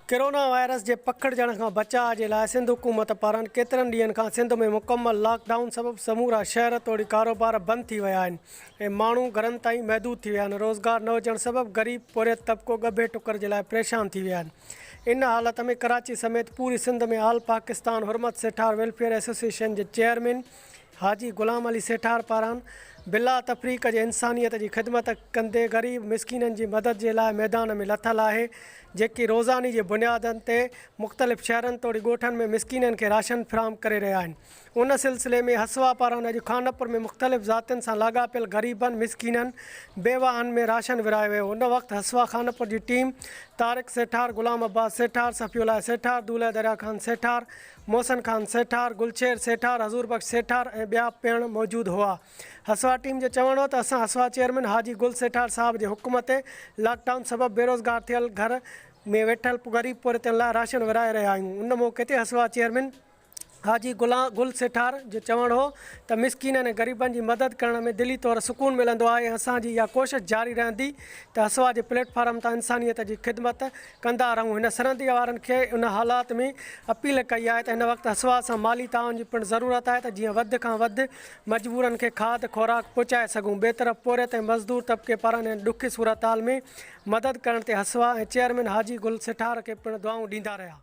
Corona virus جي پکڙجڻ کان بچاء جي لاء سنڌ حڪومت پاران ڪيترن ڏينهن کان سنڌ ۾ مڪمل لاڪ ڊائون سبب سمورا شهر توڙي ڪاروبار بند ٿي ويا آهن ۽ ماڻهو گهرن تائين محدود ٿي ويا آهن، روزگار نه هجڻ سبب غريب پورهيت طبقو ڳڀي ٽڪر جي لاء پريشان ٿي ويا آهن، ان حالت ۾ ڪراچي سميت پوري سنڌ ۾ آل پاڪستان حرمت سيٺار ويلفيئر ايسوسيئيشن جي چيئرمين حاجي غلام علي سيٺار پاران بلا تفريق جي انسانيت جي خدمت ڪندي غريب مسڪينن جي مدد جي لاء ميدان ۾ لٿل آهي جيڪي روزاني جي بنيادن تي مختلف شهرن توڙي ڳوٺن ۾ مسڪينن کي راشن فراهم ڪري رهيا آهن. ان سلسلي ۾ هسوا پاران اڄ خانپور ۾ مختلف ذاتين سان لاڳاپيل غريبن، مسڪينن، بيواهن ۾ راشن ورهايو ويو. ان وقت هسوا خانپور جي ٽيم طارق سيٺار، غلام عباس سيٺار، صفي الله سيٺار، دولهه دريا خان سيٺار، محسن خان سيٺار، گلشير سيٺار، حضور بخش سيٺار ۽ ٻيا پڻ موجود هئا. هسوا ٽيم جو چوڻ هو ته اسان هسوا چيئرمين حاجي گل سيٺار صاحب جي حڪم تي لاڪ ڊائون سبب بيروزگار ٿيل گهر ۾ ويٺل غريب پورهيتن لاء راشن ورهائي رهيا آهيون. ان موقعي تي هسوا چيئرمين حاجي غلام گل سيٺار جو چوڻ هو ته مسڪينن ۽ غريبن جي مدد ڪرڻ ۾ دلي طور سڪون ملندو آهي ۽ اسان جي اها ڪوشش جاري رهندي ته هسوا جي پليٽ فارم تان انسانيت جي خدمت ڪندا رهون هن سرندي وارن کي ان حالات ۾ اپيل ڪئي آهي ته هن وقت هسوا سان مالي تعاون جي پڻ ضرورت آهي ته جيئن وڌ کان وڌ مجبورن کي کاڌ خوراڪ پهچائي سگهون ٻئي طرف پورهيت ۽ مزدور طبقي پاران هن ڏکي صورتحال ۾ مدد ڪرڻ تي هسوا ۽ چيئرمين حاجي گل سيٺار کي پڻ دعائون ڏيندا رهيا.